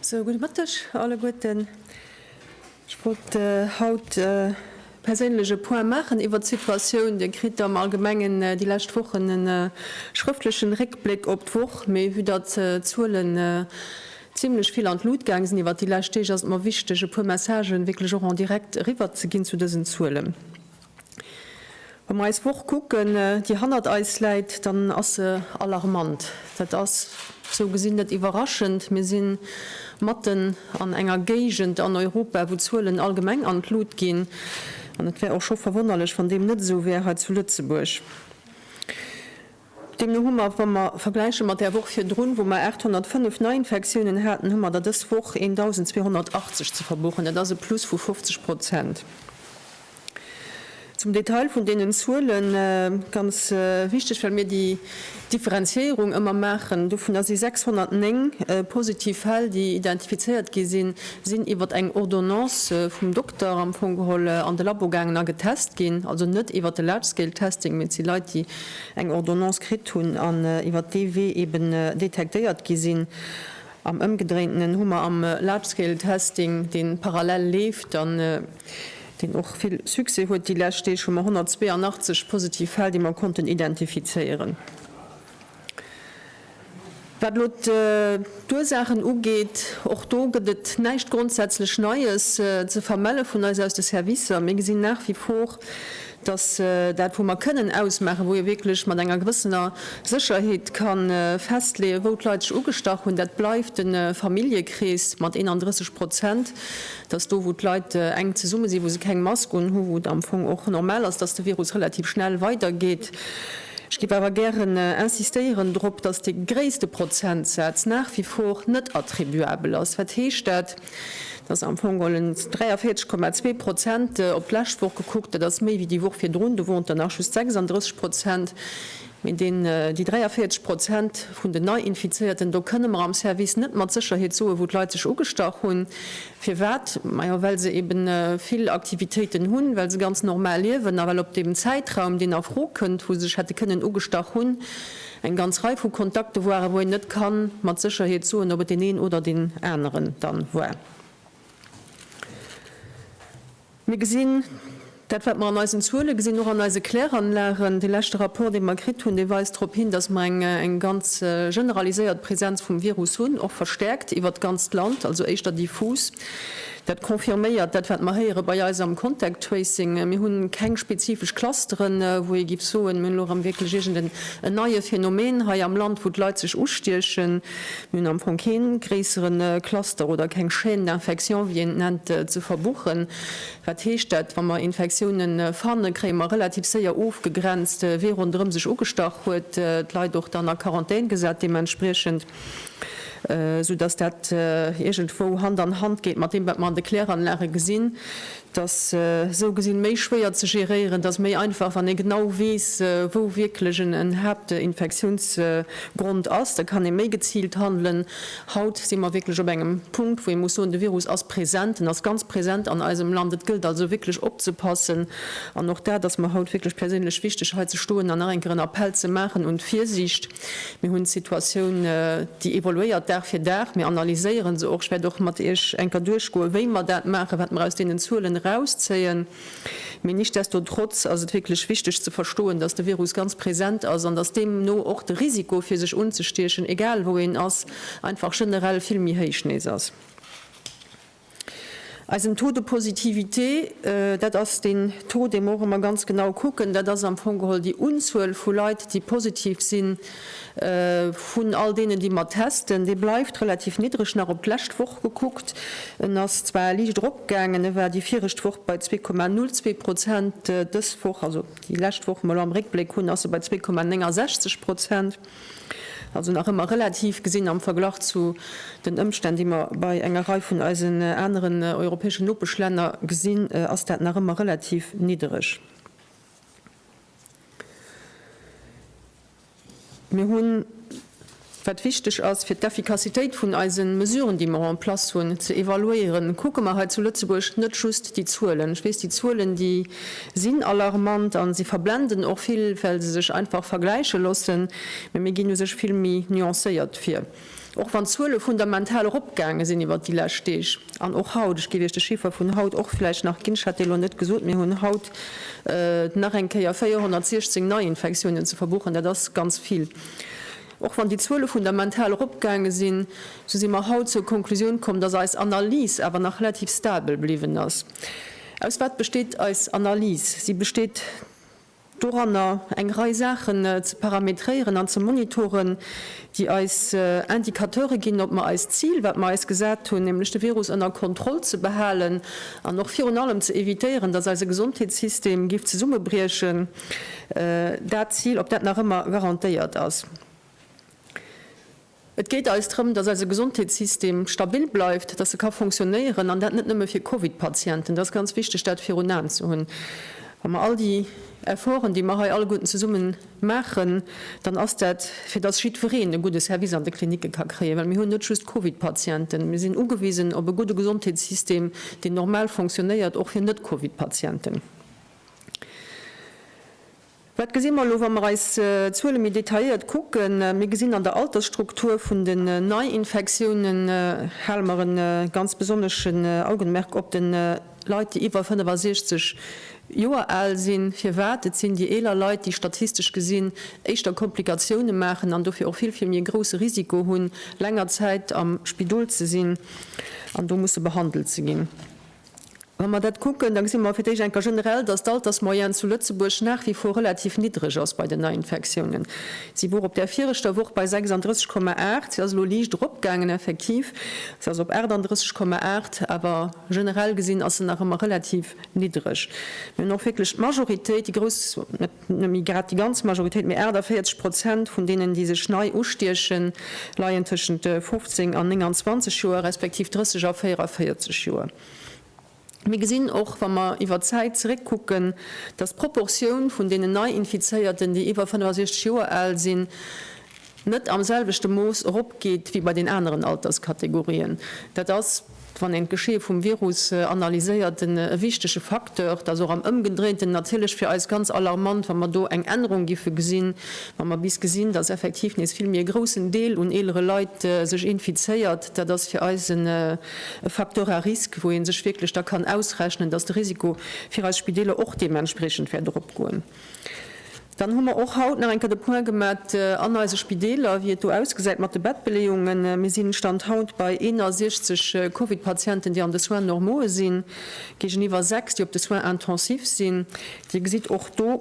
Sou, gudde Mëtteg alleguerten. Ech wollt haut perséinlech e Point maachen iwwert d'Situatioun. Dir kritt am Allgemengen déi lescht Wochen e schrëftlechen Réckbléck op d'Woch, mee vue datt d'Zuelen zimlech vill an d'Lut gaang sinn iwwert déi lescht Deeg, ass et mer wichteg e puer Messagen wierklech och en direct eriwwerzeginn zu dësen Zuelen. Wa mer eis Woch kucken, déi hannert eis läit, dann ass se alarmant. Dat ass sou gesinn net iwwerraschend. Mir si matten an enger Géigend an Europa, wou d'Zuelen allgemeng an d'Lut ginn. An et wär och scho verwonnerlech, wann deem net esou wär hei zu Lëtzebuerg. Deemno hu mer, wa mer vergläiche mat där Woch virdrun, wou mer 805 Neiinfektiounen haten, hu mer der dës Woch 1.280 ze verbuchen. Dat ass e Plus vu 50 Prozent. Zum Detail vun deenen Zuelen, ganz wichteg, well mir déi Differenziéierung ëmmer maachen, dovunner si 609 positiv Fäll, déi identifizéiert gi sinn, sinn iwwer eng Ordonnance vum Dokter am Fong geholl an de Labo gaangen a getest ginn, also net iwwer de Large-Scale-Testing, mee et si Leit, déi eng Ordonnance kritt hunn an iwwert dee Wee eben detektéiert gi sinn. Am Ëmgedréintenen hu mer am Large-Scale-Testing, dee parallel leeft an deen och vill Succès huet déi lescht Deeg, hu mer 182 positiv Fäll, déi mer konnten identifizéieren. Wat elo d'Ursaachen ugeet, och do gëtt et näischt grondsätzlech Neies ze vermelle vun eis aus de Servicer. Mir gesinn nach wie vor, dass dat, wou mer kënnen ausmaachen, wou ee wierklech mat enger gewëssener Sécherheet ka festleeën, wou d'Leit sech ugestach hunn, dat bleift de Familljekrees mat 31 Prozent, dass do, wou d'Leit enk zesumme sinn, wou se keng Mask unhunn, wou et am Fong och normal ass, dass de Virus relativ schnell weidergeet. Ech géif awer gären insistéieren drop, dass dee gréisste Prozentsaz nach wie vor net attribuabel ass. Wat heescht dat? Dat ass am Fong geholl 43,2 Prozent op d'lescht Woch gekuckt. Dat ass méi wéi déi Woch virdrun, do woren et der nach just 36 Prozent. Mee déi 43 Prozent vun den Nei-Infizéierten, do kënne mer am Service net mat Sécherheet soen, wou d'Leit sech ugestach hunn. Firwat? Majo well se eben vill Aktivitéiten hunn, well se ganz normal liewen a well op deem Zäitraum deen a Fro kënnt, wou se sech hätte kënnen ugestach hunn, eng ganz Rei vu Kontakte waren, wou een net ka mat Sécherheet soen, ob et deen een oder deen aneren dann war. Mir gesinn dat, wat mer an eisen Zuele gesinn, och an eise Kläranlagen. Dee leschte Rapport, dee mer kritt hunn, dee weist drop hin, datt mer eng ganz generaliséiert Presenz vum Virus hunn, och verstärkt iwwert d'ganzt Land, also éischter diffus. Dat confirméiert dat, wat mer héiere bei eis am Contact Tracing. Mir hu keng spezifesch Clusteren, wou ee giff soen, mir hunn elo erëm wierklech iergend en neie Phänomen hei am Land, wou d'Leit sech ustiechen. Mir hunn am Fong keen gréissere Cluster oder keng Chaîne d'infection, wéi een et nennt, ze verbuchen. Wat heescht dat? Wa mer Infektiounen fannen, kréie mer relativ séier ofgegrenzt, wee ronderëm sech ugestach huet, d'Leit och dann a Quarantän gesat deementspriechend, soudass dat iergendwou Hand an Hand geet mat deem, wat mer an de Kläranlage gesinn. Et ass esou gesinn méi schwéier ze geréieren. Et ass méi einfach, wann ee genau weess, wou wierklech en Haaptinfektiounsgrond ass. Da kann ee méi geziilt handelen. Haut si mer wierklech op engem Punkt, wou ee muss soen, de Virus ass present, en ass ganz present an eisem Land. Et gëllt also wierklech opzepassen. An och dat ass mer haut wierklech perséinlech wichteg, hei ze stoen an nach eng Kéier en Appell ze maachen un d'Virsiicht. Mir hunn d'Situatioun, déi evoluéiert Dag fir Dag. Mir analyséieren se och. Ech wäert och mat Iech enker duerchgoen, wéi mer dat maachen, wat mer aus deenen Zuelen erauszéien. Mee nichtsdestotrotz ass et wierklech wichteg ze verstoen, dass de Virus ganz present ass an dass deemno och de Risiko, fir sech unzestiechen, egal wou een ass, einfach generell vill méi héich nees ass. Eisen Taux de positivité, dat ass deen Taux, dee mer och ëmmer ganz genau kucken, dat ass am Fong geholl déi Unzuel vu Leit, déi positiv sinn, vun all deenen, déi mer testen, dee bleift relativ niddreg. Nach op d'lescht Woch gekuckt, en ass zwar liicht eropgaangen, e war déi virecht Woch bei 2,02 Prozent, dës Woch, also déi lescht Woch, déi mer elo am Réckbléck hunn, ass e bei 2,69 Prozent. Also nach ëmmer relativ gesinn am Verglach zu den Ëmstänn, déi mer bei enger Rei vun eisen aneren europäeschen Nopeschlänner gesinn, ass dat nach ëmmer relativ niddereg. Mir hunn, wat wichteg ass, fir d'Effikassitéit vun eise Mesuren, déi mer en place hunn, ze evaluéieren, kucke mer hei zu Lëtzebuerg net just déi Zuelen. Ech weess, déi Zuelen, déi. sinn alarmant a si verblenden och vill, well se sech einfach vergläiche loossen. Mee mir ginn u sech vill méi nuancéiert vir, och wann d'Zuele fundamental eropgaange sinn iwwert déi lescht Deeg an och haut. Ech géif Iech de Chiffer vun haut och vläicht nach ginn, ech hat dee lo net gesot. Mir hunn haut nach eng Kéier 416 Neiinfektiounen ze verbuchen. Dat ass ganz vill. Och wann déi Zuele fundamental eropgaange sinn, esou si mer haut zur Konklusioun komm, dass eis Analys awer nach relativ stabel bliwwen ass. Aus wat besteet eis Analys? Si besteet doranner, eng Rei Saachen ze parametréieren an ze monitoren, déi eis Indicateure ginn, ob mer eist Zil, wat mer eis gesat hunn, nämlech de Virus ënner Kontroll ze behalen an och virun allem ze evitéieren, dass eise Gesondheetssystem géif zesummebriechen, dat Zil, ob dat nach ëmmer garantéiert ass. Et geet eis drëm, dass eise Gesondheetssystem stabil bleift, dass e ka fonctionnéieren, an dat net nëmme fir Covid-Patienten. Et ass ganz wichteg, dat virun Aen ze hunn, wa mer all déi Efforten, déi mer hei alleguerten zesumme maachen, dann ass dat, fir dass jiddwereen e gudde Service an de Klinicke ka kréien, well mir hunn net just Covid-Patienten. Mir sinn ugewisen op e gudde Gesondheetssystem, deen normal fonctionnéiert, och fir Net-Covid-Patienten. Wat gesi mer elo, wa mer eis d'Zuele méi detailléiert kucken? Mir gesinn an der Altersstruktur vun den Neiinfektiounen, hale mer e ganz besonneschen Augenmerk op de Leit, déi iwwer 65 Joer al sinn. Firwat? Et sinn déi eeler Leit, déi statistesch gesinn éischter Komplikatioune maachen an dofir och vill, vill méi e grousse Risiko hunn, länger Zäit am Spidol ze sinn an do musse behandelt ze ginn. Wa mer dat kucken, da gesi mer fir d'éischt eng Kéier generell, dass d'Altersmoyenne zu Lëtzebuerg nach wie vor relativ niddreg ass bei den Neiinfektiounen. Si wor op där viregter Woch bei 36, 8. Si ass elo liicht eropgaangen, effektiv, si ass op 38, 8, awer generell gesinn ass se nach ëmmer relativ niddreg. Mir hunn och wierklech d'Majoritéit, déi grouss, net nëmme grad déi ganz Majoritéit, mee 48 Prozent vun deenen, déi sech nei ustiechen, leien tëschent 15 an 29 Joer, respektiv 30 a 44 Joer. Mir gesinn och, wa mer iwwer d'Zäit zeréckkucken, dass d'Proportioun vun deenen Nei-Infizéierten, déi iwwer 65 Joer al sinn, net am selwechte Mooss eropgeet wéi bei den aneren Alterskategorien. Dat ass, wann een d'Geschee vum Virus analyséiert, e wichtege Facteur. Dat ass och am Ëmgedréinten natierlech fir eis ganz alarmant, wa mer do eng Ännerung giffe gesinn, wa mer bis gesinn, dass effektiv nees vill méi e groussen Deel un eelere Leit sech infizéiert. Dat ass fir eis en. e Facteur à risque, wou ee sech wierklech da kann ausrechnen, dass de Risiko fir eis Spideeler och deementspreechend wäert eropgoen. Dann hu mer och haut nach eng Kéier de Point gemat an eise Spideeler, wéi et do ausgesäit mat de Bettbeleeungen. Mir sinn, Stand haut, bei 61 Covid-Patienten, déi an de Soins normaue sinn, géigeniwwer 6, déi op de Soins intensifs sinn. Dir gesitt och do,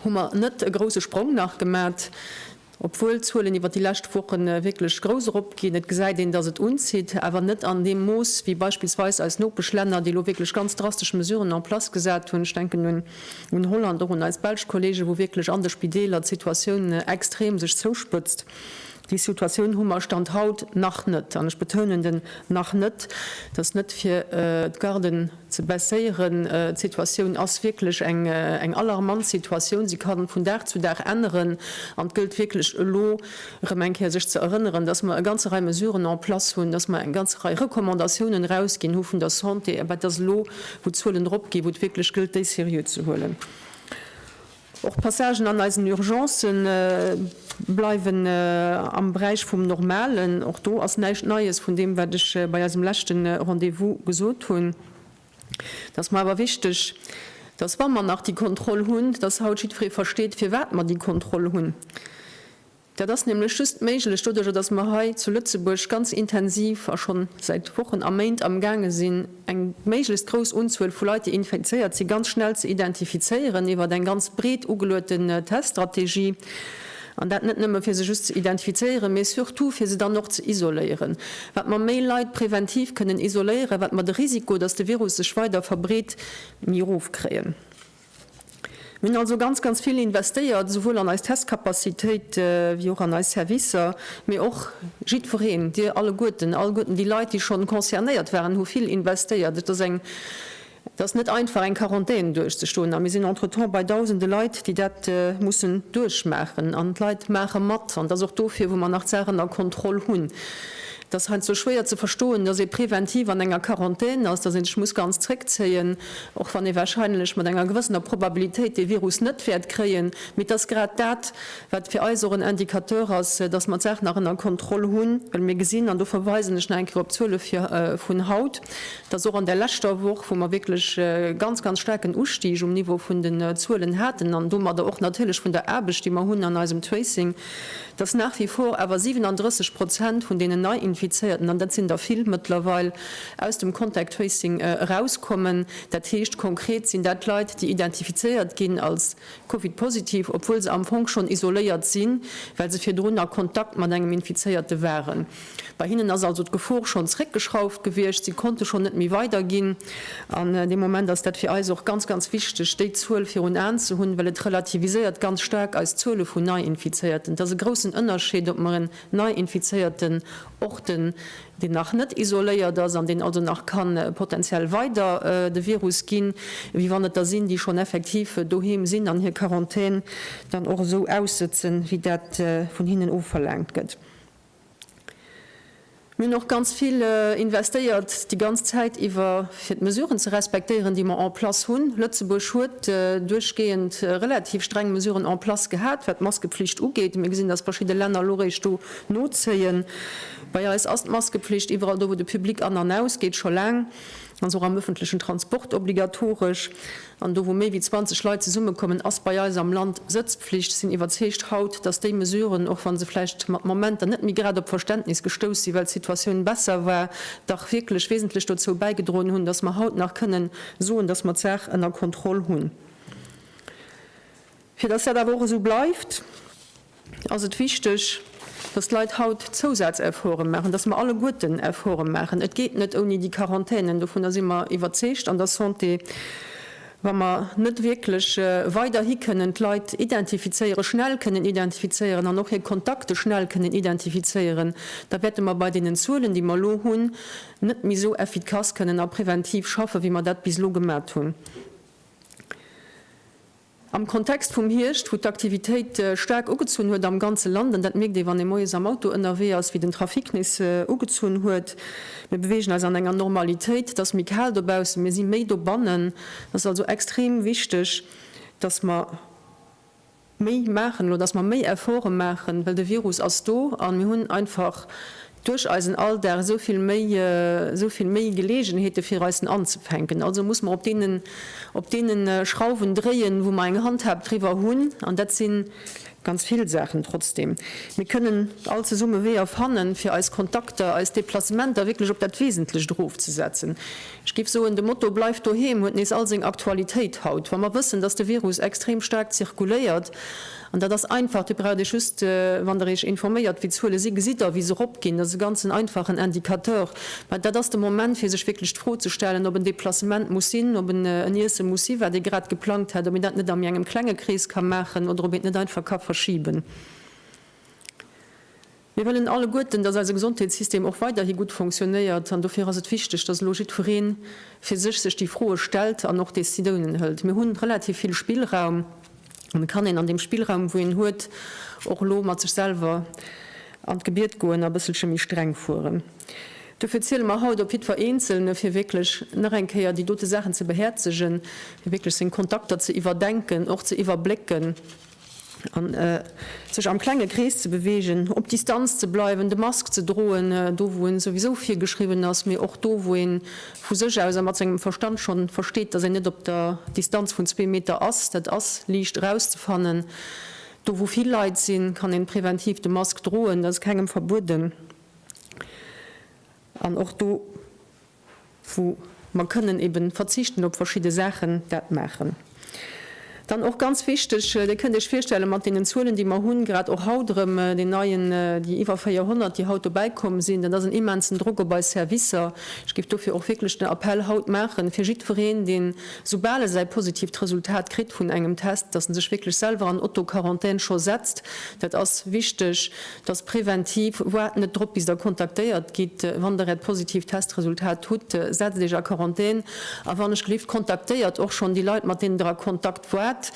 hu mer net e grousse Sprong nach gemat, obwuel d'Zuelen iwwer déi lescht Woche wierklech grouss eropginn. Et gesäit een, dass et unzitt, awer net an deem Mooss wéi beispillsweis eis Nopeschlänner, déi elo wierklech ganz drastesch Mesuren en place gesat hunn. Ech denken un Holland, och un eis belsch Kollegen, wou wierklech an de Spideeler d'Situatioun extrem sech zouspëtzt. Déi Situatioun hu mer Stand haut nach net, an ech betounen den nach net, dass net fir d'Garden, ze baisséieren. D'Situatioun ass wierklech eng alarmant Situatioun. Si ka vun Dag zu Dag änneren an et gëllt wierklech elo erëm eng Kéier sech ze erënneren, dass mer e ganze Rei Mesuren en place hunn, dass mer eng ganze Rei Recommandatiounen erausginn hu vun der Santé, mä et ass elo, wou d'Zuelen eropginn, wou et wierklech gëllt, déi seriö ze huelen. Och d'Passagen an eisen Urgencë bleiwen am Beräich vum Normalen. Och do ass näischt Neies vun deem, wat ech bei eisem leschte Rendez-vous gesot hunn. Et ass mer awer wichteg, dass, wa mer nach déi Kontroll hunn, dass haut jiddweree versteet, firwat mer déi Kontroll hunn. Dat ass nämlech just méiglech doduerjer, dass mer hei zu Lëtzebuerg ganz intensiv a schonn säit Wochen a Méint amgaange sinn, eng méiglechst grouss Unzuel vu Leit, déi infizéiert sinn, ganz schnell ze identifizéieren iwwert eng ganz breet ugelueten Teststrategie. An dat net nëmme fir se just ze identifizéieren, mee surtout fir se dann och ze isoléieren. Wat mer méi Leit präventiv kënnen isoléieren, wat mer de Risiko, dass de Virus sech weider verbreet, méi erof kréien. Mir hunn also ganz, ganz vill investéiert, esouwuel an eis Testcapacitéit wéi och an eis Servicer, mee och jiddwereen, Dir alleguerten, alleguerten déi Leit, déi schonn concernéiert waren, hu vill investéiert. Et ass eng, et ass net einfach, eng Quarantän duerchzustoen. A mir sinn entretemps bei Dausende Leit, déi dat mussen duerchmaachen. An d'Leit maache mat. An et ass och dofir, wou mer nach d'Saachen a Kontroll hunn. Et ass heiansdo schwéier ze verstoen, dass ee präventiv an enger Quarantän ass, dass ee sech muss ganz zréckzéien, och wann ee wahrscheinlech mat enger gewëssener Probabilitéit dee Virus net wäert kréien. Mee et ass grad dat, wat fir eis och en Indicateur ass, dass mer d'Saach nach ënner Kontroll hunn, well mir gesinn, an do verweisen ech nach eng Kéier op d'Zuele vun haut, dass och an där leschter Woch, wou mer wierklech e ganz, ganz staarken Ustig um Niveau vun den Zuelen haten an domadder och natierlech vun der Aarbecht, déi mer hunn an eisem Tracing, dass nach wie vor awer 37 Prozent vun deenen Neiinfizéierten, an dat sinn der vill mëttlerweil, aus dem Contact Tracing erauskommen. Dat heescht konkret, sinn dat Leit, déi identifizéiert ginn als Covid-positiv, obwuel se am Fong schonn isoléiert sinn, well se virdrun a Kontakt mat engem Infizéierte waren. Bei hinnen ass also d'Gefor schonn zréckgeschrauft gewiescht, si konnte schonn net méi weiderginn. An deem Moment ass dat fir eis och ganz, ganz wichteg, déi Zuel virun Aen ze hunn, well et relativiséiert ganz staark eis Zuele vun Neiinfizéierten. Et ass e groussen Ënnerscheed, ob mer en Neiinfizéierten orten, deen nach net isoléiert ass an deen also nach ka potenziell weider de Virus ginn, wéi wann et der sinn, déi schonn effektiv doheem sinn an hir Quarantän dann och esou aussëtzen, wéi dat vun hinnen ofverlaangt gëtt. Mir hunn och ganz vill investéiert déi ganz Zäit iwwer, fir d'Mesuren ze respektéieren, déi mer en place hunn. Lëtzebuerg huet duerchgehend relativ streng Mesuren en place gehat, wat d'Maskepflicht ugeet. Mir gesinn, dass verschidde Länner elo eréischt do nozéien. Bei eis ass d'Maskepflicht iwwerall do, wou de Public an an ausgeet, scho laang. Ass och am ëffentlechen Transport obligatoresch. An do wou méi wéi 20 Leit zesummekommen, ass bei eis am Land Sëtzpflicht. Sinn iwwerzeegt haut, datt déi Mesuren, och wa se vläicht mat Momenter net méi grad op Verständnis gestouss sinn, well d'Situatioun besser war, dach wierklech wesentlech dozou bäigedroen hunn, datt mer haut nach kënnen soen, datt mer d'Saach ënner Kontroll hunn. Fir dass dat awer och esou bleift, ass et wichteg, dass d'Leit haut Zousazefforte maachen, dass mer alleguerten Efforte maachen. Et geet net ouni déi Quarantänen, dovunner si mer iwwerzeegt an der Santé. Wa mer net wierklech weiderhi kënnen d'Leit identifizéieren, schnell kënnen identifizéieren an och hir Kontakte schnell kënnen identifizéieren, da wäerte mer bei deenen Zuelen, déi mer elo hunn, net méi esou effikass kënnen a preventiv schaffen, wéi mer dat bis elo gemat hunn. Am Kontext vum Hierscht, wou d'Aktivitéit staark ugezunn huet am ganze Land, an dat mierkt ee wann ee moies am Auto ënnerwee ass, wéi den Trafic nees ugezunn huet, mir beweegen eis an enger Normalitéit, et ass méi kal dobaussen, mir si méi dobannen, et ass also extrem wichteg, datt mer méi maachen elo, datt mer méi Efforte maachen, well de Virus ass do a mir hunn einfach duerch eisen Alldag esou vill méi, esou vill méi Geleegenheete fir eisen anzefänken. Also muss mer op deenen, op deene Schrauwen dréien, wou mer eng Handhab driwwer hunn, an dat si ganz vill Saachen. Trotzdem, mir kënnen all zesumme Weeër fannen, fir eis Kontakter, eis Deplacementer wierklech op dat Wesentlecht erofzesetzen. Ech géif soen, de Motto Bleift doheem huet nees all seng Aktualitéit haut, wa mer wëssen, dass de Virus extrem staark zirkuléiert. An dat ass einfach, Dir braucht Iech just, wann Der Iech informéiert, wéi d'Zuele sinn, gesitt Der, wéi se eropginn. Dat ass e ganzen einfachen Indicateur. Mä dat ass de Moment, fir sech wierklech d'Fro ze stellen, ob en Deplacement muss sinn, ob en en Iesse muss sinn, wat ee grad geplangt hätt, ob een dat net a méi engem klenge Krees ka maachen oder ob een et net einfach ka verschiben. Mir wëllen alleguerten, dass eise Gesondheetssystem och weiderhi gutt fonctionnéiert an dofir ass et wichteg, dass elo jiddweree fir sech sech déi Froe stellt an och Décidounen hëlt. Mir hunn relativ vill Spillraum an et kann een an deem Spillraum wou een huet och elo mat sech selwer an d'Gebiet goen a bësselche méi streng fueren. Dofir ziele mer haut op jiddwer Eenzelne fir wierklech nach eng Kéier déi dote Saachen ze behäerzegen, fir wierklech seng Kontakter ze iwwerdenken, och ze iwwerblécken. an sech am klenge Krees ze beweegen, op Distanz ze bleiwen, de Mask ze droen, do wou en souwisou virgeschriwwen ass, mee och do wou een vu sech aus a mat sengem Verstand schonn versteet, dass een net op der Distanz vun zwee Meter ass. Dat ass liicht erauszefannen. Do wou vill Leit sinn, kann een präventiv de Mask droen, dat ass kengem verbueden an och do, wou mer kënnen eben verzichten op verschidde Saachen, dat maachen. Dann och ganz wichteg, Dir kënnt Iech virstellen, mat deenen Zuelen, déi mer hunn, grad och haut erëm deen neien, déi iwwer 400, déi haut dobäi komm sinn, dat ass en immensen Drock op eis Servicer. Ech géif dofir och wierklech den Appell haut maachen, fir jiddwereen, deen, soubal e säi positiivt Resultat kritt vun engem Test, dass en sech wierklech selwer an Auto-Quarantän scho setzt. Dat ass wichteg. dass präventiv, waart net drop bis der kontaktéiert gitt, wann der äert positiivt Testresultat hutt, setzt iech a Quarantän a wann ech gelift kontaktéiert och schonn déi Leit mat deenen der a Kontakt waart,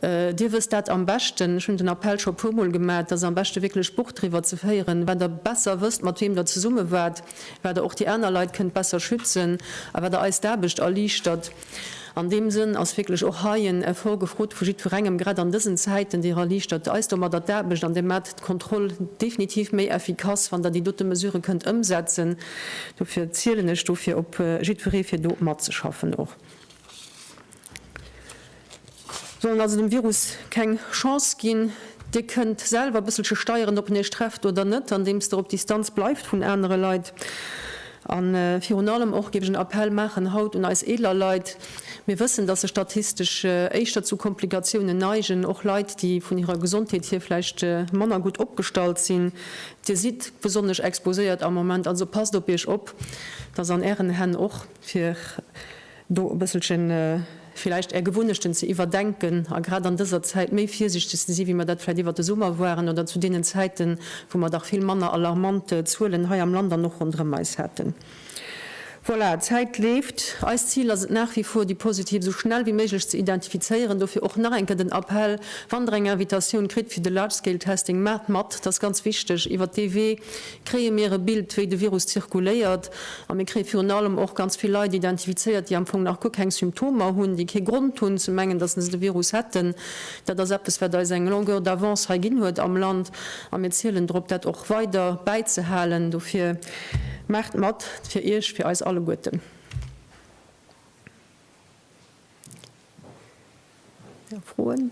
dir wësst dat am beschten, ech hunn den Appell scho puer mol gemaat, dass am beschte wierklech Buch driwwer ze féieren, wat der besser wësst mat weem der zesumme waart, wat der och déi aner Leit kënnt besser schützen a wat der eis d'Aarbecht erliichtert. An deem Sënn ass wierklech och hei en Effort gefrot vu jiddwerengem, grad an dësen Zäiten. Dir erliichtert eis domadder d'Aarbecht an Dir maacht d'Kontroll definitiv méi effikass, wann Der déi dote Mesurë kënnt ëmsetzen. Dofir zielen ech dofir op jiddweree fir do matzeschaffen och. Sollen also dem Virus keng Chance ginn. Dir kënnt selwer e bësselche steieren, ob en iech trefft oder net, andeems der op Distanz bleift vun anere Leit. A virun allem och géif ech en Appell maachen haut un eis eeler Leit. Mir wëssen, dass se statistesch éischter zu Komplikatiounen neigen, och Leit, déi vun hirer Gesondheet hier vläicht manner gutt opgestallt sinn. Dir sidd besonnesch exposéiert am Moment, also passt op iech op, dass an ären Hänn och, fir. do e bësselche villäicht Är Gewunnechten ze iwwerdenken a grad an dëser Zäit méi virsiichteg ze si wéi mer dat vläicht iwwert de Summer waren oder zu deenen Zäiten, wou mer dach vill manner alarmant Zuelen hei am Land an och ronderëm eis haten. Voilà, d'Zäit leeft. Eist Zil ass et nach wie vor, déi Positiv esou schnell wéi méiglech ze identifizéieren. Dofir och nach eng Kéier den Appell, Wann Der eng Invitatioun kritt fir de Large-Scale-Testing, maacht mat, dat ass ganz wichteg. Iwwert dee Wee kréie mir e Bild, wéi de Virus zirkuléiert, a mir kréie virun allem och ganz vill Leit identifizéiert, déi am Fong nach guer keng Symptomer hunn, déi kee Grond hunn ze mengen, datt se de Virus hätten. Dat ass eppes, wat eis eng Longueur d'avance hei ginn huet am Land, a mir zielen drop, dat och weider bäizehalen. Dofir, Maacht mat, fir Iech, fir eis alleguerten! Froen?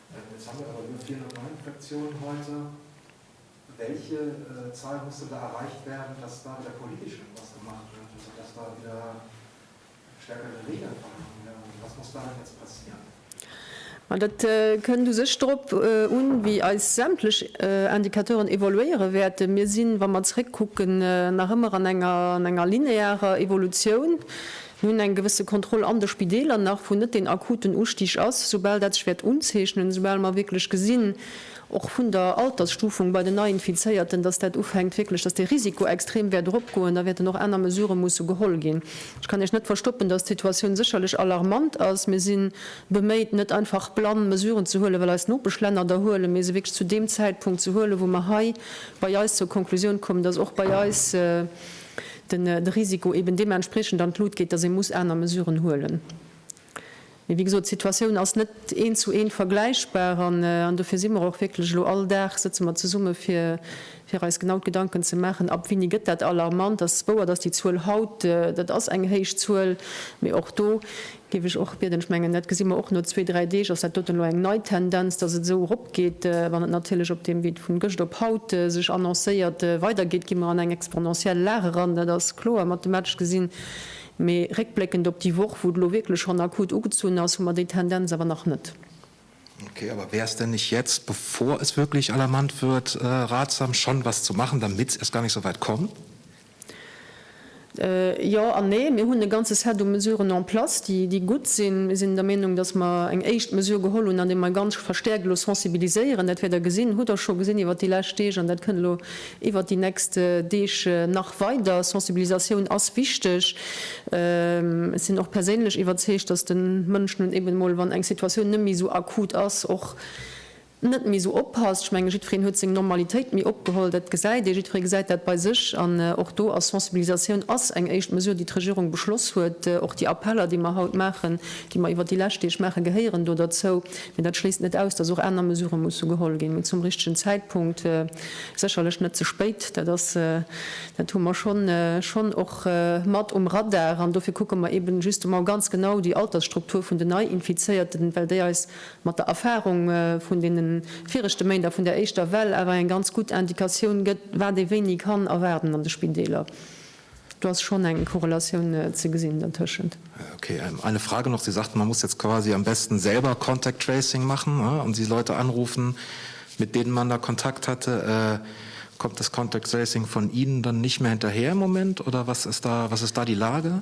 Ma dat kënnt u sech drop un, wéi eis sämtlech Indicateuren evoluéiere wäerten. Mir sinn, wa mer zeréckkucken, nach ëmmer an enger linearer Evolutioun. Mir hunn eng gewësse Kontroll an de Spideeler nach, wou net deen akuten Ustig ass. Soubal dat sech wäert unzeechnen, soubal mer wierklech gesinn, och vun der Altersstufung bei den Neiinfizéierten, dass dat ufänkt wierklech, dass de Risiko extrem wäert eropgoen, da wäerten och aner Mesurë musse geholl ginn. Ech kann Iech net verstoppen, dass d'Situatioun sécherlech alarmant ass. Mir si beméit, net einfach blann Mesuren ze huelen, well eis Nopeschlänner der huelen, mee se wierklech zu deem Zäitpunkt ze huelen, wou mer hei bei eis zur Konklusioun kommen, dass och bei eis, den Risiko eben deementspriechend an d'Lut geet, datt ee muss aner Mesuren huelen. Mee wéi gesot, d'Situatioun ass net eent zu eent vergläichbar an dofir si mer och wierklech elo, all Dag sëtze mer zesumme fir eis genau d'Gedanken ze maachen, ab wéini gëtt dat alarmant. Et ass wouer, datt déi Zuel haut, dat ass eng héich Zuel, mee och do Géif ech och bieden. Ech mengen, dat gesi mer och no zwee, dräi Deeg, ass dat doten elo eng nei Tendenz, dass et esou eropgeet. Wann et natierlech op deem Wee vun gëscht op haut sech annoncéiert weidergeet, gi mer an eng exponentiell Lag eran. Dat ass kloer, mathematesch gesinn. Mee réckbléckend op déi Woch, wou et elo wierklech schonn akut ugezunn ass, hu mer déi Tendenz awer nach net. Okay, aber wäre es denn nicht jetzt, bevor es wirklich alarmant wird, ratsam, schon etwas zu machen, damit es erst gar nicht so weit kommt? Jo an nee. Mir hunn e ganze Set u Mesuren en place, déi gutt sinn. Mir sinn der Meenung, datt mer eng éischt Mesure geholl hunn, andeem mer ganz verstäerkt elo sensibiliséieren. Dat wäert Der gesinn, hutt Der scho gesinn iwwert déi lescht Deeg an dat kënnt elo iwwert déi nächst Deeg nach weider. Sensibilisatioun ass wichteg. Ech sinn och perséinlech iwwerzeegt, datt de Mënsch nun eben emol, wann eng Situatioun net méi esou akut ass, och net méi esou oppasst. Ech menge jiddwereen huet seng Normalitéit méi opgeholl, dat gesäit ee, jiddweree gesäit dat bei sech an och do ass Sensibilisatioun ass eng éischt Mesure déi d'Regierung beschloss huet. Och déi Appeller déi mer haut maachen, déi mer iwwer déi lescht Deeg maachen, gehéieren do derzou. Mee dat schléisst net aus, datt och aner Mesurë musse geholl ginn, mee zum richtegen Zäitpunkt, sécherlech net ze spéit. Dat ass, dat hu mer schonn schonn och mat um Radar an dofir kucke mer eben justement ganz genau déi Altersstruktur vun den Neiinfizéierten, well déi eis mat der Erfahrung vun deene viregte Méint a vun där éischter Well awer eng ganz gutt Indikatioun gëtt, wat ee wéini kann erwaarden an de Spideeler. Do ass schonn eng Korrelatioun ze gesinn dertëschent. Okay, eine Frage noch, Sie sagten, man muss jetzt quasi am besten selber contact tracing machen und die Leute anrufen, mit denen man da Kontakt hatte. Kommt das contact tracing von Ihnen dann nicht mehr hinterher im Moment oder was ist da die Lage?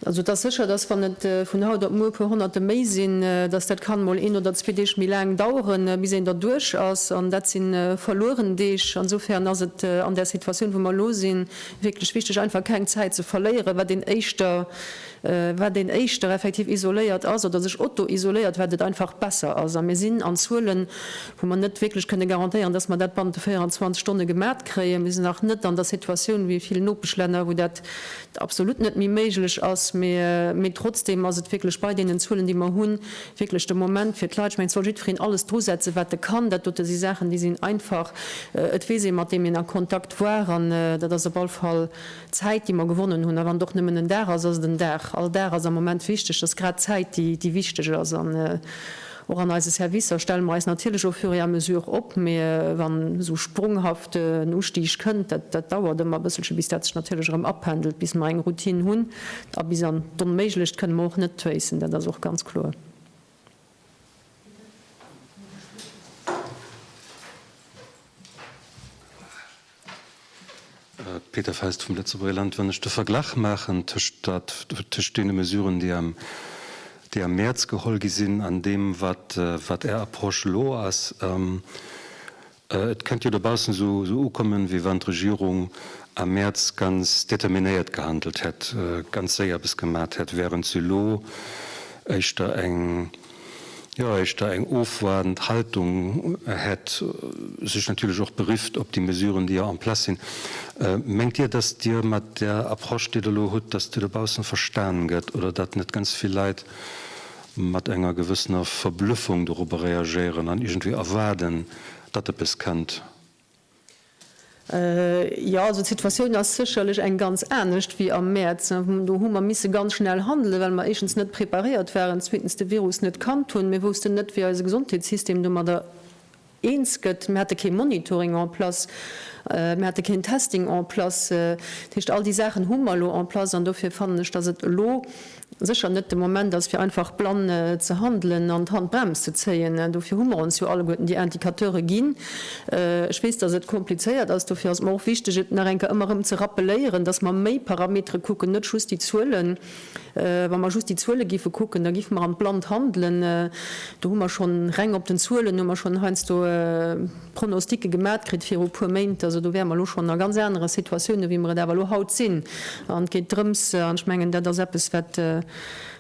Also et ass sécher, dass wann et vun haut op muer e puer Honnerte méi sinn, dass dat kann emol een oder zwee Deeg méi laang daueren, bis een derduerch ass. An dat si verlueren Deeg. Insofern ass et an där Situatioun, wou mer elo sinn, wierklech wichtig, einfach keng Zäit ze verléieren. Wat een éischter, wat een éischter effektiv isoléiert ass oder sech autoisoléiert, wat et einfach besser ass. A mir sinn an Zuelen, wou mer net wierklech kënne garantéieren, dass mer dat bannent de 24 Stonne gemat kréien. Mir sinn nach net an der Situatioun wéi vill Nopeschlänner, wou dat absolut net méi méiglech ass, mee trotzdeem ass et wierklech bei deenen Zuelen, déi mer hunn, wierklech de Moment fir d'Leit, ech mengen, et soll jiddwereen alles drusetzen, wat e kann. Dat dote si Saachen, déi sinn einfach, et weess ee, mat deem een a Kontakt war, an dat ass op alle Fall Zäit, déi mer gewonnen hunn. A wann et och nëmmen en Dag ass, ass et en Dag. All Dag ass am Moment wichteg, et ass grad d'Zäit, déi wichteg ass. Och an eise Servicer stelle mer eis natierlech au fur et à mesure op, mee wann esou sprunghaft en Ustig kënnt, dat dauert ëmmer e bësselche bis dat sech natierlech erëm apendelt, bis mer eng Routine hunn a bis an d'Onméiglecht kënne mer och net tréissen, dat ass och ganz kloer. Peter Fest vum Lëtzebuerger Land. Wann ech de Verglach maachen tëscht deene Mesuren, déi am Mäerz geholl gi sinn, an deem, wat Är Approche elo ass, et kënnt jo dobaussen esou ukommen, wéi wann d'Regierung am Mäerz ganz determinéiert gehandelt hätt, ganz séier eppes gemat hätt, wärend se elo éischter eng, jo éischter eng ofwaardend Haltung hätt, sech natierlech och berifft op déi Mesuren, déi jo en place sinn. Mengt Dir, datt Dir mat där Approche, déi Der elo hutt, datt Dir dobaussen verstan gëtt oder datt net ganz vill Leit mat enger gewëssener Verblüffung dorobber reagéieren an iergendwéi erwaarden, datt eppes kënnt? Jo, also d'Situatioun ass sécherlech eng ganz anescht wéi am Mäerz. Do hu mer misse ganz schnell handelen, well mer éischtens net preparéiert waren, zweetens de Virus net kannt hunn. Mir woussten net, wéi eise Gesondheetssystem domadder eens gëtt. Mir hate kee Monitoring en place, mir hate keen Testing en place. Dat heescht, all déi Saachen hu mer elo en place an dofir fannen ech, datt et elo, sécher net de Moment ass, fir einfach blann ze handelen an d'Handbrems ze zéien. Dofir hu mer ons jo alleguerten déi Indicateure ginn. Ech weess, dass et komplizéiert ass. Dofir ass et mer och wichtig, et nach eng Kéier ëmmer erëm ze rappeléieren, dass mer méi Parametere kucken, net just déi Zuelen. Wa mer just déi Zuele géife kucken, da géife mer an d'Blannt handelen. Do hu mer schonn, reng op den Zuelen hu mer schonn heiansdo, Pronosticke gemat kritt viru puer Méint. Also do wäre mer elo schonn a ganz anere Situatiounen, wéi mer et awer elo haut sinn. An et geet drëms, an ech mengen, dat ass eppes, wat,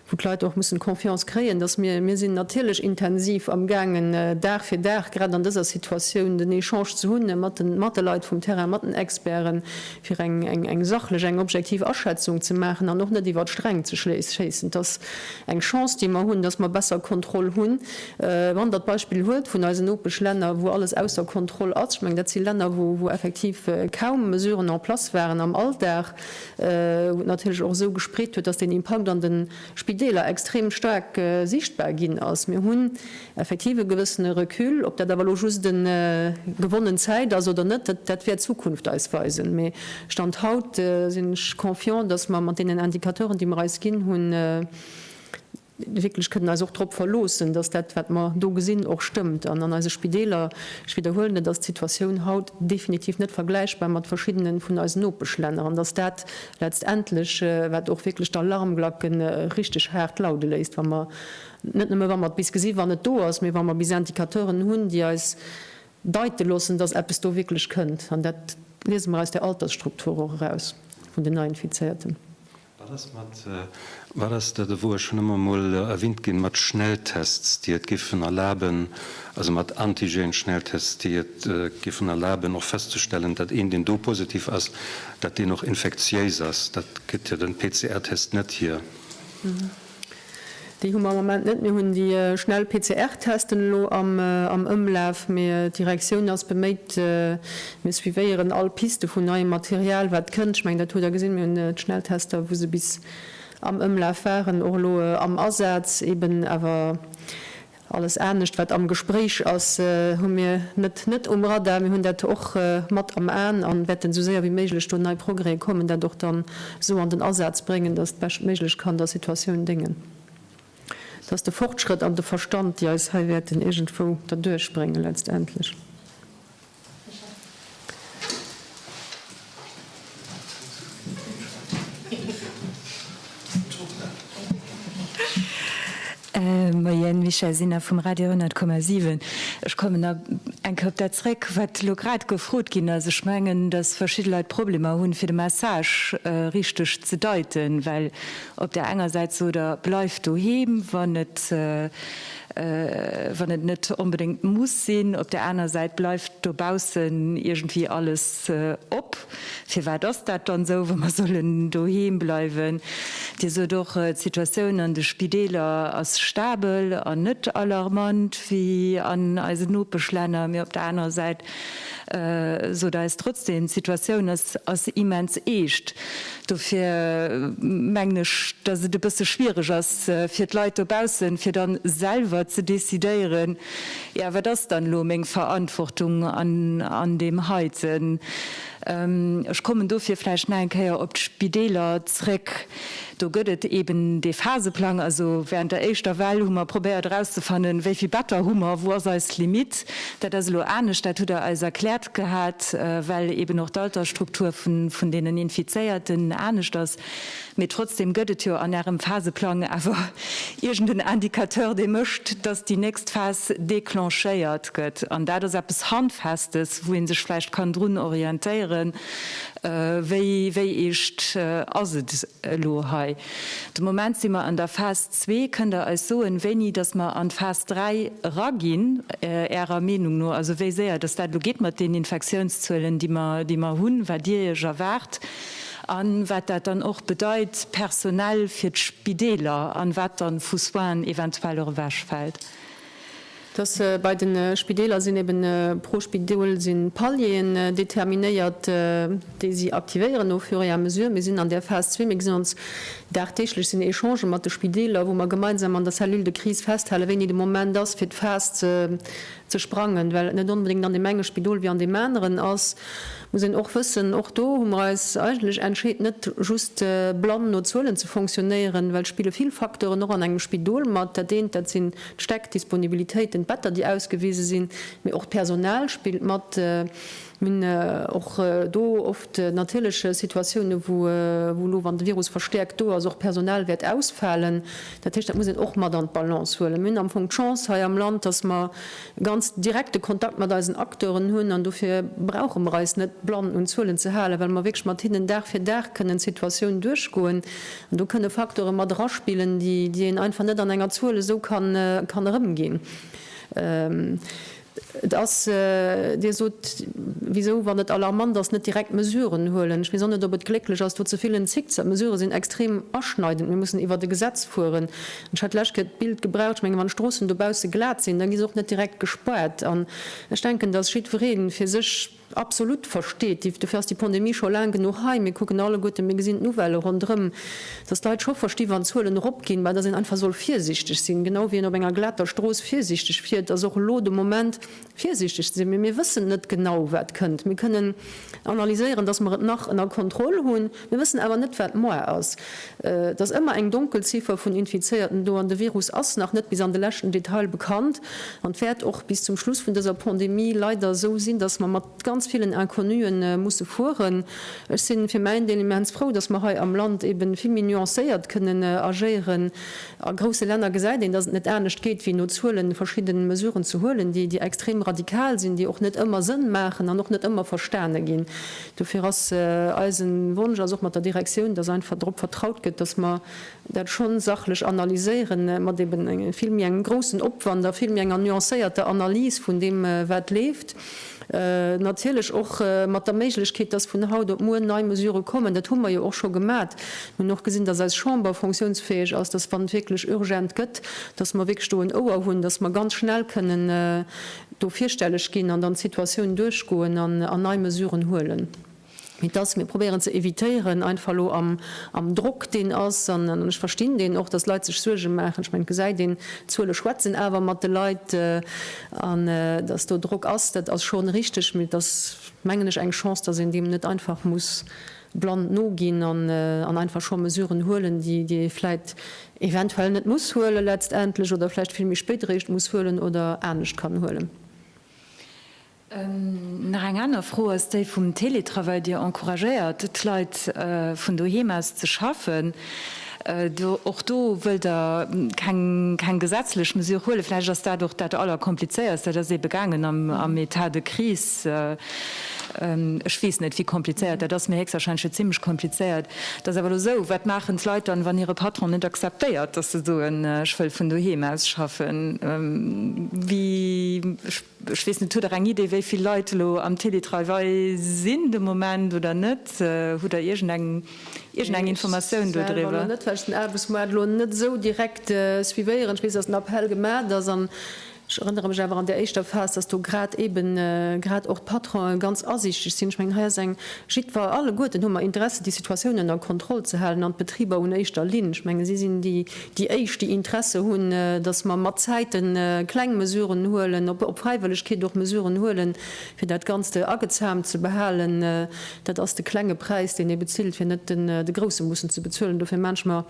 wou d'Leit och mussen Confiance kréien, dass mir, mir sinn natierlech intensiv amgaangen, Dag fir Dag, grad an dëser Situatioun, den Echange ze hunn mat de, mat de Leit vum Terrain, mat den Experten, fir eng, eng, eng sachlech, eng objektiv Aschätzung ze maachen an och net iwwer d'Sträng ze schéissen. Et ass eng Chance, déi mer hunn, dass mer besser Kontroll hunn. Wann Der d'Beispill huet vun eisen Nopeschlänner, wou alles ausser Kontroll ass, ech mengen, dat si Länner, wou effektiv kaum Mesuren en place waren am Alldag, wou et natierlech och esou gespreet huet, dass den Impakt an de Spideeler extrem staark sichtbar ginn ass. Mir hunn effektiv e gewëssene Recul. Ob dat awer elo just gewonnen Zäit ass oder net, dat wäert d'Zukunft eis weisen. Mee Stand haut sinn ech confiant, dass mer mat deenen Indicateuren, déi mer eis ginn hunn, wierklech kënnen eis och drop verloossen, dass dat, wat mer do gesinn, och stëmmt. An an eise Spideeler, ech widderhuelen et, ass d'Situatioun haut definitiv net vergläichbar mat verschiddene vun eisen Nopeschlänner. An dass dat letztendlech, wat och wierklech d'Alarmglacke richtig haart laude léisst, wa mer, net nëmme wa mer et bis gesi wann et do ass, mee wa mer bis Indicateuren hunn, déi eis deite loossen, dass eppes do wierklech kënnt. An dat liese mer aus der Altersstruktur och eraus vun den Neiinfizéierten. Wat ass mat, wat ass dat ewou, ech hunn ëmmer emol erwinnt ginn, mat Schnelltests, déi et géifen erlaben, also mat Antigen-Schnelltests, déi et géifen erlaben och festzestellen, datt een, deen do positiv ass, datt deen och infektiéis ass? Dat gëtt jo den PCR-Test net hier. Déi hu mer am Moment net. Mir hunn déi schnell PCR-Testen elo am Ëmlaf, mee d'Direktioun ass beméit. Mir suivéieren all Piste vun neiem Material, wat kënnt. Ech mengen, dat hutt Der gesinn, mir hunn d'Schnelltester, wou se bis am Ëmlaf waren, och elo am Asaz eben. Awer Alles anescht wat am Gespréich ass, hu mir net net um Radar. Mir hunn dat och mat am Aen a wäerten esou séier wéi méiglech do nei Progrèse kommen, dat och dann esou an den Asaz bréngen, datt beschtméiglech kann der Situatioun déngen. Dat ass de Fortschrëtt an de Verstand, déi eis hei wäerten iergendwou derduerch bréngen letztendlech. Moien, Michèle Sinner vum Radio 100,7. Ech kommen nach eng Kéier op dat zréck, wat elo grad gefrot ginn ass. Ech mengen, datt verschidde Leit Problemer hunn, fir de Message richteg ze deiten, well op där enger Säit sot Der, Bleift doheem, wann et wann et net onbedéngt muss sinn. Op där aner Säit bleift dobaussen iergendwéi alles op. Firwat ass dat dann esou, wa mer sollen doheem bleiwen? Dir sot och, d'Situatioun an de Spideeler ass stabel an net alarmant wéi an eisen Nopeschlänner. Mee op der anerer Säit Sot eis trotzdem, d'Situatioun ass immens eescht. Dofir mengen ech, dass et e bësse schwiereg ass fir d'Leit dobaussen, fir dann selwer ze decidéieren, jo, wat ass dann elo meng Verantwortung an deem heiten. Ech kommen dofir vläicht nach eng Kéier op d'Spideeler zrëck. Do gëtt et eeben dee Phaseplang. Also während der éischter Well hu mer probéiert erauszefannen, wéi vill Better hu mer, wou ass eis Limitt. Dat ass elo anescht, dat hutt Der eis erkläert gehat, well eeben och d'Altersstruktur vun deenen Infizéierten anescht ass. Mee trotzdem gëtt et jo an Ärem Phaseplang awer iergend en Indicateur, dee mécht, dass déi nächst Phas declenchéiert gëtt. An dat ass eppes Handfestes, wou ee sech vläicht kann drun orientéieren, Wéi eescht ass et elo hei? De Moment si mer an der Phas zwee. Kënnt Der eis soen, wéini dass mer an d'Phas dräi eraginn, Ärer Meenung no? Also wéi séier dass dat elo geet mat den Infektiounszuelen, déi mer hunn, wat Dir Iech erwaart a wat dat dann och bedeit personell fir d'Spideeler an wat dann vu Soinen eventuell och ewechfält? dass bei de Spideeler sinn eben pro Spidol si Palieren determinéiert, déi si aktivéieren au fur et à mesure. Mir sinn an där Phas zwee, mir gesinn ons dagdeeglech, sinn Echangen mat de Spideeler, wou mer gemeinsam an der Cellule de crise festhale wéini de Moment ass fir d'Phas ze sprangen, well et net onbedéngt an deem enge Spidol wéi an deem aneren ass. muss een och wëssen, och do hu mer eis eigentlech entscheet, net just blann no Zuelen ze fonctionnéieren, well et spille vill Facteuren och an engem Spidol mat. Dat eent, dat sinn d'Stäck, d'Disponibilitéiten, d'Better, déi ausgewise sinn, mee och d'Personal spillt mat. Mir hunn och do oft natierlech Situatiounen, wou elo, wann de Virus verstäerkt do ass, och Personal wäert ausfalen. Dat heescht, dat muss een och mat an d'Balance huelen. Mir hunn am Fong d'Chance hei am Land, dass mer, ganz direkte Kontakt mat eisen Acteuren hunn an dofir brauche mer eis net blann un Zuelen ze halen, well mer wierklech mat hinnen Dag fir Dag kënnen d'Situatioun duerchgoen. An do kënne Facteure mat eraspillen, déi een einfach net an enger Zuel esou kann erëmginn. Et ass, Dir sot, wisou, wann et alarmant ass, net direkt Mesuren huelen. Ech weess och net, ob et glécklech ass, do ze villen Zickzack. D'Mesurë sinn extrem aschneidend. Mir mussen iwwert e Gesetz fueren. Ech hat d'lescht Kéier d'Bild gebraucht, ech mengen, wann d'Stroossen dobausse glat sinn, da gi se och net direkt gespaart. An ech denken, dass jiddweree fir sech absolut versteet, dofir ass déi Pandemie scho laang genuch hei, mir kucken alleguerten, mir gesinn d'Nouvellë ronderëm, dass d'Leit scho versti wann d'Zuelen eropginn, mä dass een einfach soll virsichteg sinn, genau wéi een op enger glater Strooss virsichteg fiert, ass och elo de Moment, virsiichteg ze sinn, mee mir wëssen net genau, wat kënnt. Mir kënnen analyséieren, dass mer et nach ënner Kontroll hunn, mir wëssen awer net, wat moar ass. Et ass ëmmer eng Donkelziffer vun Infizéierten do an de Virus ass nach net bis an de leschten Detail bekannt an wäert och bis zum Schluss vun dëser Pandemie leider esou sinn, dass mer mat ganz villen Inconnue musse fueren. Ech si fir mäin Deel immens frou, dass mer hei am Land eeben vill méi nuancéiert kënnen agéieren. A grousse Länner gesäit een, datt et net anescht geet, wéi no Zuelen verschidden Mesuren ze huelen, déi déi extrem radikal sinn, déi och net ëmmer Sënn maachen an och net ëmmer verstane ginn. Dofir ass eisen Wonsch, ass och mat der Direktioun, datt einfach drop vertraut gëtt, datt mer dat schonn sachlech analyséieren, mat eben vill méi engem groussen Opwand a vill méi enger nuancéierter Analys vun deem wat leeft. Natierlech och mat der Méiglechkeet, dass vun haut op muer nei Mesüre kommen. Dat hu mer jo och scho gemat. Mir hunn och gesinn, dass eis Chamber fonctionsfäeg ass, dass, wann et wierklech urgent gëtt, dass mer wierklech do en Ouer hunn, dass mer ganz schnell kënnen do virstelleg ginn an dann d'Situatioun duerchgoen an nei Mesüren huelen. mee dass mir probéieren ze évitéieren, einfach elo am Drock, deen ass, an ech verstinn deen och, dass Leit sech Suerge maachen, ech mengen, d'Gesäit een, d'Zuele schwätzen awer mat de Leit, an dass do Drock ass, dat ass schonn richteg, mee et ass, mengen ech, eng Chance, dass een deem net einfach muss blann noginn an einfach scho Mesuren huelen, déi ee vläit eventuell net muss huelen letztendlech oder vläicht vill méi spéit eréischt muss huelen oder anescht kann huelen. Nach eng aner Fro ass déi vum Teletravail. Dir encouragéiert d'Leit vun doheem aus ze schaffen. Och do wëllt Der keng gesetzlech Mesure huelen. Vläicht ass dat och dat Allerkomplizéierst. Dat ass eebe gaangen am Etat de crise. Ech weess net, wéi komplizéiert dat ass, mee héchstwahrscheinlech jo zimmlech komplizéiert. Et ass awer elo esou, Wat maachen d'Leit dann, wann hire Patron net akzeptéiert, datt se soen, Ech wëll vun doheem aus schaffen? Wéi? Ech weess net, hutt Der eng Idee, wéi vill Leit elo am Télétravail sinn de Moment oder net? Hutt Der iergendeng iergendeng Informatioun do driwwer? Ech selwer elo net, well ech den Aarbechtsmoart elo net esou direkt suivéieren. Ech weess, datt en Appell gemaacht ass an ech erënnere mech awer an där éischter Phas, datt do grad eeben grad och d'Patronen ganz asiichteg sinn. Ech mengen, hei ass eng jiddwer, alleguerten hu mer Interesse déi Situatioun ënner Kontroll ze halen an d'Betriber un éischter Linn. Ech mengen, si sinn déi, déi éischt, déi Interesse hunn, dass mer mat Zäite kleng Mesuren huelen, op Fräiwëllegkeet och Mesuren huelen, fir dat Ganzt agezaamt ze behalen. Dat ass de klenge Präis, deen ee bezilt, fir net de grousse mussen ze bezuelen. Dofir maache ech mer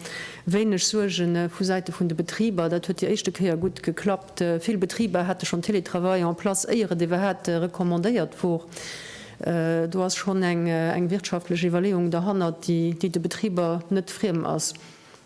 wéineg Suerge vu Säite vun de Betriber. Dat huet déi éischte Kéier gutt geklappt. Vill Betriber hate schonn Télétravail en place, éier et iwwerhaapt recommandéiert wor. Do ass schonn eng wirtschaftlech Iwwerleeung derhannert, déi de Betriber net friem ass.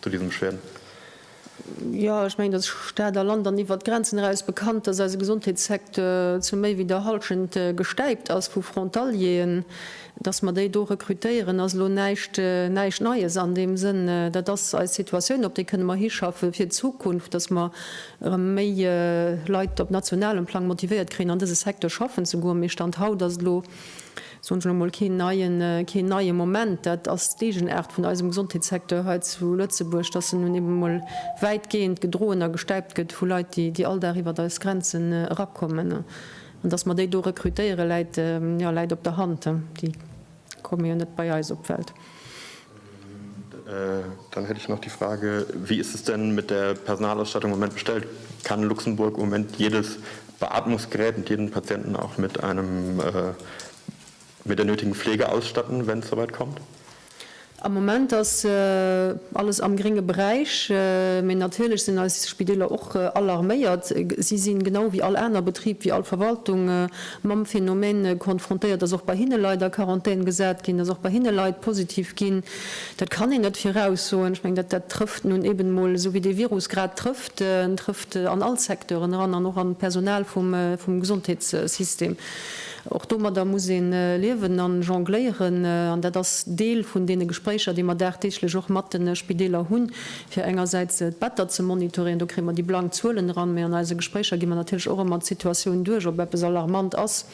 zu diesem Schwäen? Jo, ech mengen, dass Stad a Land an iwwert d'Grenzen eraus bekannt, dass eise Gesondheetssecteur zu méi wéi der Halschent gestäipt ass vu Frontalieren. Dass mer déi do rekrutéieren, ass elo näischt, näischt Neies an deem Sënn. Dat ass eis Situatioun, op déi kënne mer hischaffe fir d'Zukunft, dass mer erëm méi Leit op nationalem Plang motivéiert kréien, an dëse Secteur schaffen ze goen. Mee Stand haut ass et elo. soen ech elo mol, keen neien, keen neie Moment. Dat ass d'Eegenaart vun eisem Gesondheetssecteur hei zu Lëtzebuerg, dass en nun ebe mol wäitgehend gedroen a gestäipt gëtt vu Leit, déi, déi all Dag iwwert eis Grenzen erakommen. An dass mer déi do rekrutéieren, läit, jo, läit op der Hand, déi komme jo net bei eis op d'Welt. Dann hätt ech nach déi Frage, Wie ist es denn mit der Personalausstattung im Moment bestellt? Kann Luxemburg im Moment jedes Beatmungsgerät und jeden Patienten auch mit einem, mit der nötigen Pflege ausstatten, wenn es so weit kommt? Am Moment ass alles am grénge Beräich, mä natierlech sinn eis Spideeler och alarméiert. Si sinn, genau wéi all aner Betrib, wéi all Verwaltung, mam Phänomen konfrontéiert, dass och bei hinne Leit a Quarantän gesat ginn, dass och bei hinne Leit positiv ginn. Dat kann een net viraussoen. Ech mengen, dat dat trëfft nun eben emol esou, wéi dee Virus grad trëfft. En trëfft an all Secteuren eran an och an d'Personal vum vum Gesondheetssystem. Och domadder muss ee liewen a jongléieren an dat ass Deel vun deene Gespréicher, déi mer dagdeeglech och mat de Spideeler hunn, fir engersäits d'Better ze monitoréieren, do kréie mer déi blank Zuelen eran, mä an eise Gespréicher gi mer natierlech och ëmmer d'Situatioun duerch, ob eppes alarmant ass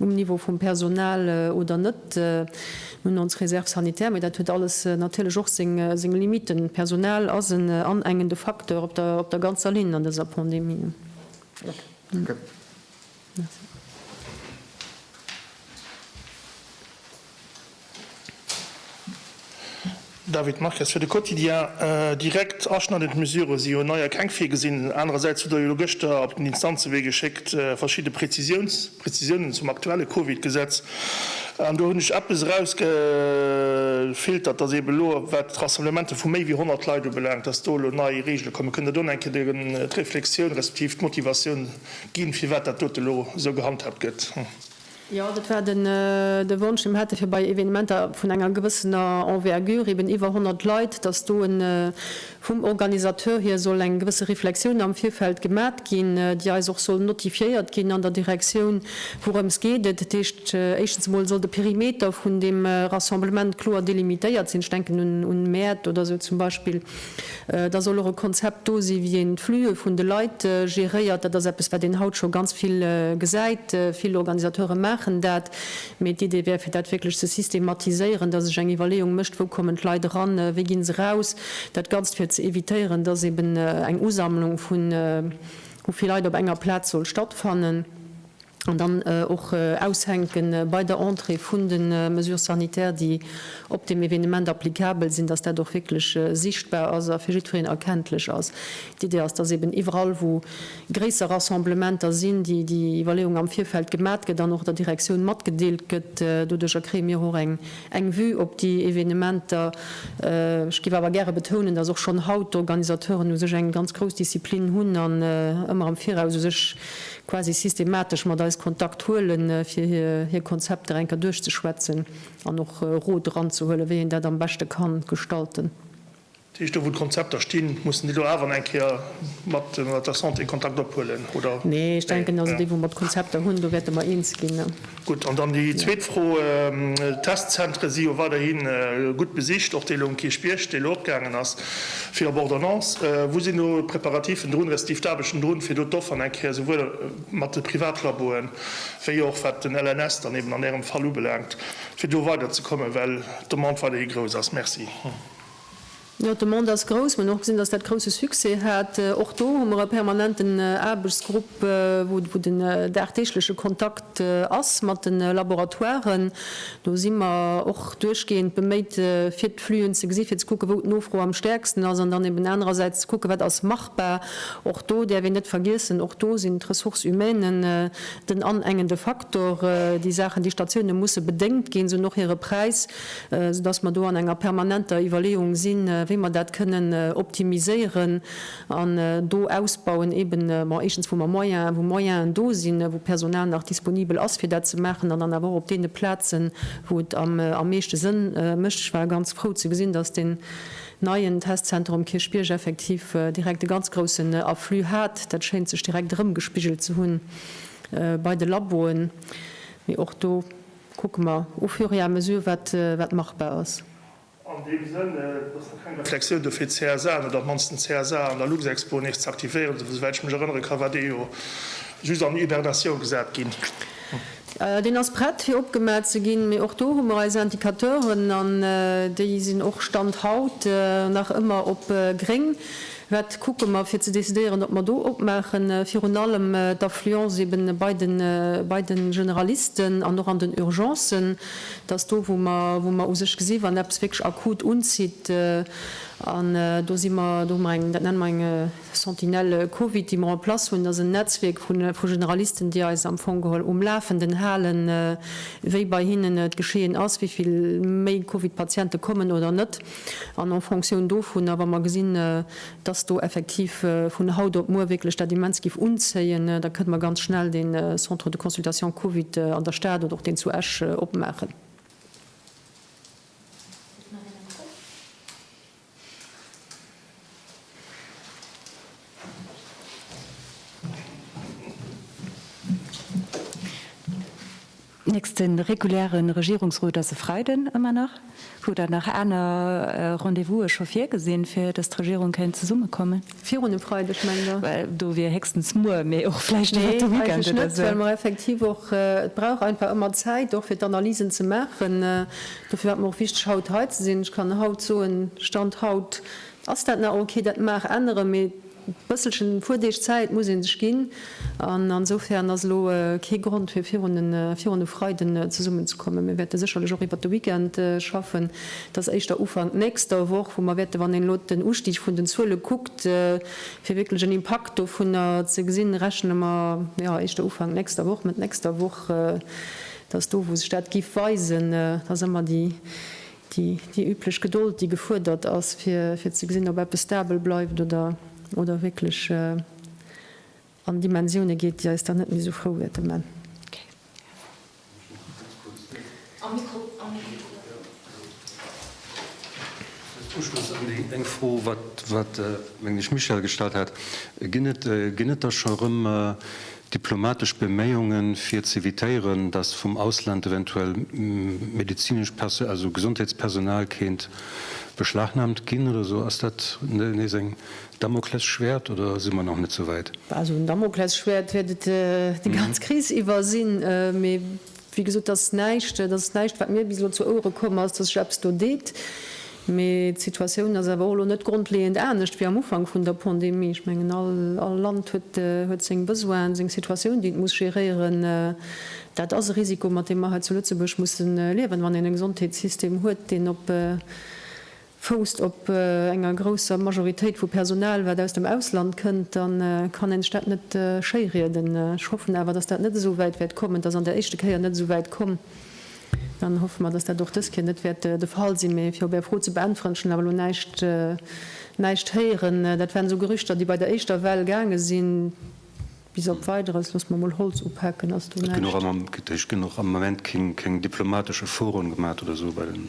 um Niveau vum Personal oder net. Mir hunn ons Réserve sanitaire, mä dat huet alles natierlech och seng Limiten. D'Personal ass en anengende Facteur op der ganzer Linn an dëser Pandemie. David Marques, fir de Quotidien, Direkt aschneidend Mesurë si jo neier keng virgesinn. Anerersäits hutt Der jo elo gëschter op den Instanzewee geschéckt verschidde Prezisiouns, Prezisiounen zum aktuelle Covid-Gesetz. An do hunn ech eppes erausgefiltert, datt eeben elo wat d'Rassemblemente vu méi wéi 100 Leit ubelaangt, datt do elo nei Reegele kommen. Kënnt Der do nach eng Kéier d'Reflexioun respektiv d'Motivatioun. Ginn, firwat dat dote elo esou gehandhaabt gëtt. Jo, dat war de Wonsch, dee mer hätte fir bei Evenementer vun enger gewëssener Envergure, eben iwwer 100 Leit, dass do vum Organisateur hier soll eng gewësse Reflexioun am Virfeld gemat ginn, déi eis och soll notifiéiert ginn an der Direktioun, wourëms geet et. Dat heescht, éischtens emol soll de Perimeter vun deem Rassemblement kloer delimitéiert sinn. Ech denken un Mäert oder esou zum Beispill. Da soll och e Konzept do sinn, wéi een d'Flüe vun de Leit geréiert. Dat ass eppes, wat een haut scho ganz vill gesäit. Vill Organisateure maachen dat. Mee d'Idee wär, fir dat wierklech ze systematiséieren, dass sech eng Iwwerleeung mécht, wou kommen d'Leit eran, wéi ginn se raus. Dat Ganzt, fir ze evitéieren, dass eben eng Usammlung vu vill Leit op enger Plaz soll stattfannen. an dann och aushänke bei der Entrée vun de Mesures sanitaires, déi op deem Evenement applicabel sinn, dass dat och wierklech sichtbar ass a fir jiddwereen erkenntlech ass. D'Idee ass, dass eben iwwerall, wou gréisser Rassemblementer sinn, déi Iwwerleeung am Virfeld gemat gëtt an och der Direktioun matgedeelt gëtt. Doduercher kréie mir och eng Vue op déi Evenementer. Ech géif awer gäre betounen, dass och schonn haut d'Organisateuren u sech eng ganz grouss Disziplin hunn an ëmmer am Viraus u sech quasi systematesch mat eis Kontakt huelen, fir hir Konzepter enker duerchzeschwätzen an och Rot eranzehuelen, wéi een dat am beschte ka gestalten. Dat heescht, do wou d'Konzepter stinn, mussen déi do awer eng Kéier mat der Santé Kontakt ophuelen, oder? Nee, ech denken also, déi wou mer d'Konzepter hunn, do wäerte mer eens ginn. Gutt, an dann déi zweet Fro, d'Testzentre si jo weiderhi gutt besicht, och dee lo um Kierchbierg, dee lo opgaangen ass fir op Ordonnance. Wou sinn do d'Preparativen drun, respektiv d'Aarbechten drun, fir do d'Offeren eng Kéier esouwuel mat de Privatlaboen, wéi och wat den LNS dann eben an Ärem Fall ubelaangt, fir do weiderzekommen, well d'Demande weiderhi grouss ass? Merci. Jo, d'Demande ass grouss. Mir hunn och gesinn, dass dat grousse Succès hat. Och do hu mer e permanenten Aarbechtsgrupp, wou den dagdeegleche Kontakt ass mat de Laboratoiren. Do si mer och duerchgehend beméit, fir d'Flühen ze gesi fir ze kucken, wou d'Nofro am stäerksten ass, an dann eben anerersäits ze kucken, wat ass machbar. Och do däerf een net vergiessen, och do sinn d'Ressources humaines den anengende Faktor. Déi Saachen, déi Statioune musse bedéngt ginn. Se hunn och hire Präis. soudass mer do an enger permanenter Iwwerleeung sinn, wéi mer dat kënnen optimiséieren an do ausbauen, eben, bon, éischtens wou mer Moyen, wou Moyenen do sinn, wou Personal nach disponibel ass fir dat ze maachen, an dann awer och op deene Plazen, wou et am meeschte Sënn mécht. Ech war ganz frou ze gesinn, dass deen neien Testzenter um Kierchbierg effektiv direkt e ganz groussen Afflux hat. Dat schéint sech direkt erëmgespigelt ze hunn bei de Laboen, mee och do, Kucke mer au fur et à mesure, wat machbar ass. An deem Sënn, dass da keng Reflexioun do fir d'CSAen oder am mannsten d'CSA an der Luxexpo nees ze aktivéieren, esou wäit ech mech erënnere kann, war dee jo just an Hibernatioun gesat ginn. Deen ass prett fir opgemat ze ginn, mee och do hu mer eis Indicateuren an déi sinn och Stand haut nach ëmmer op gréng. Wat kucke mer, fir ze decidéieren, ob mer do opmaachen? Virun allem d'Affluence eeben bei de, bei de Generalisten an och an den Urgencen. Dat ass do, wou mer, wou mer u sech gesi wann eppes wierklech akut unzitt. An do si mer, do hu mer eng, dat nenne mer eng Sentinelle Covid, déi mer en place hunn. Dat ass en Netzwierk vu, vu Generalisten, déi eis am Fong geholl um Lafenden halen, wéi bei hinnen d'Geschehen ass, wéi vill méi Covid-Patiente kommen oder net. An en Fonctioun dovunner, wa mer gesinn, dass do effektiv vun haut op muer wierklech dat immens géif unzéien, da kënne mer ganz schnell dee Centre de consultation Covid an der Stad oder och deen zu Esch opmaachen. Nächste reguläre Regierungsrot ass e Freiden, ëmmer nach. Hutt Der nach aner Rendez-vouse scho virgesinn, fir datt d'Regierung kéint zesummekommen? Virun e Freideg, mengt Der? Well do wier héchstens muer, mee och vläicht iwwert de Weekend oder esou. Well mer effektiv och, et brauch einfach ëmmer Zäit och fir d'Analysen ze maachen. Dofir war et mer och wichteg haut hei ze sinn. Ech kann haut soen, Stand haut ass dat nach ok, dat mag änneren, mee Bësselchen Fuerdeeg Zäit muss ee sech ginn, an ansoufern ass elo kee Grond fir virun e Freiden zesummen ze kommen. Mir wäerte sécherlech och iwwert de Weekend schaffen. Et ass éischter Ufank nächster Woch, wou mer wäerte, wann een elo den Ustig vun den Zuele kuckt, fir wierklech en Impakt dovunner ze gesinn, rechne mer, jo, éischter Ufank nächster Woch, Mëtt nächster Woch, dass do wou sech dat géif weisen, dass ëmmer déi Déi üblech Gedold, déi gefuerdert ass, fir ze gesinn, ob eppes stabel bleift oder wierklech an Dimensioune geet, déi eis dann net méi esou frou wäerte man. Als Uschloss un déi eng Fro, wat, mengen ech, Michèle gestallt hat, Ginn et da scho rëm, Diplomatesch Beméiungen fir z'evitéieren, dass vum Ausland eventuell medezinesch, also Gesondheetspersonal kéint beschlagnahmt ginn oder esou, ass dat nees eng Damoklesschwäert oder si mer nach net souwäit? Also en Damoklesschwäert wäert et déi ganz Kris iwwer sinn, mee Wéi gesot, dat ass näischt, dat ass näischt, wat mir bis elo zu Ouere komm ass, datt sech eppes do deet. Mee d'Situatioun ass awer och elo net grondleeënd anescht wéi am Ufank vun der Pandemie. Ech mengen, all Land huet seng Besoinen, seng Situatioun, déi et muss géréieren. Dat ass e Risiko, mat deem mer hei zu Lëtzebuerg musse liewen, wann een e Gesondheetssystem huet, deen op fousst op enger grousser Majoritéit vu Personal, wat aus dem Ausland kënnt, da kann een sech dat net schéirieden. Ech hoffen awer, dass dat net esou wäit wäert kommen. Et ass an der éischte Kéier net esou wäit komm. Dann hoffe mer, dass dat och dës Kéier net wäert de Fall sinn. Mee fir op Är Fro ze beäntweren, ech hunn awer elo näischt, näischt héieren. Dat waren esou Gerüchter, déi bei der éischter Well gaange sinn. Bis op Weideres, loosse mer emol Holz upaken, ass do näischt. Et ginn och am Moment keng diplomatesch Efforten gemaach oder esou bei den.